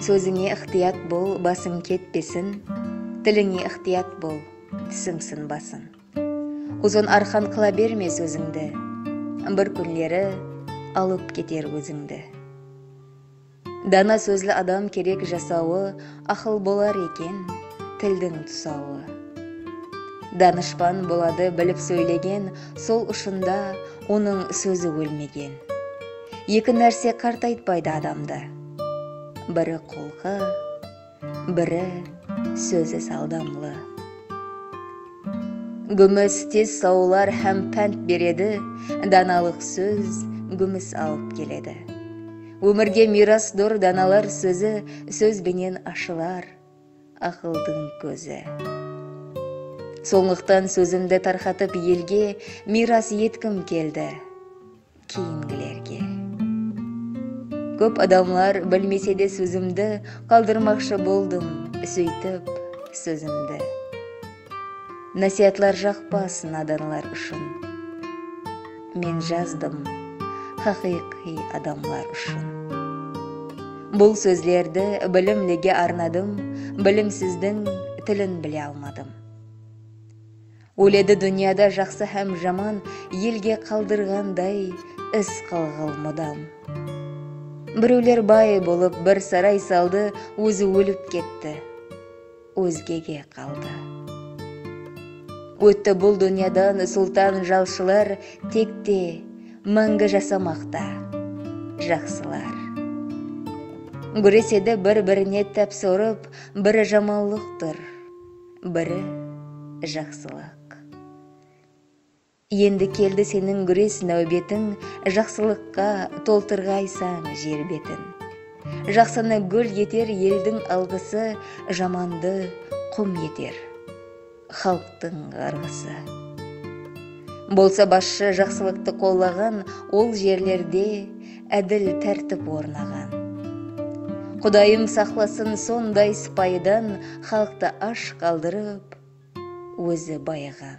Sózińe ıqtıyat bol, basıń ketpesin, Tilińe ıqtıyat bol, túsiń sınbasın. Uzın arqan qıla berme sózińdi, Bir kúnleri alıp keter ózińdi. Dana sózli adam kerek jasawı, Aqıl bolar eken, tildiń tusawı. Danıshpan boladı bilip sóylegen, Sol ushında onıń sózi ólmegen. Eki nárse qartaytpaydı adamdı. Biri qulqı, biri sózi saldamlı. Gúmis tez sawlar hám pánt beredi, Danalıq sóz gúmis alıp keledi. Ómirge miyrasdur danalar sózi, Sóz benen ashılar aqıldıń kózi. Sonlıqtan sózimdi tarqatıp elge Miyras etkim keldi, Keyingilerge. Kóp adamlar bilmesede sózimdi qaldırmaqshı boldım sóytip sózimdi Násiyatlar jaqpas nadanlar ushın Men jazdım haqıyqıy adamlar ushın Bul sózlerdi bilimlige arnadım Bilimsizdiń tilin bile almadım. Óledi dúnyada jaqsı hám jaman elge qaldırǵanday iz qalǵal mudam. Birewler bay bolıp bir saray saldı ózi ólip ketti ózgege qaldı. Ótti bul dúnyadan sultan jalshılar tekte máńgi jasamaqta jaqsılar. Gúresedi bir birine táps urıp biri jamanlıqtır. Biri, jaqsılıq. Endi keldi seniń gúres náwbetiń Jaqsılıqqa toltırǵaysań jer betin. Jaqsını gúl eter eldiń alǵısı Jamandı qum eter xalıqtıń ǵarǵısı. Bolsa basshı jaqsılıqtı qollaǵan ol jerlerde ádil tártip ornaǵan. Qudayım saqlasın sonday sıpayıdan xalıqtı ash qaldırıp ózi bayaǵan.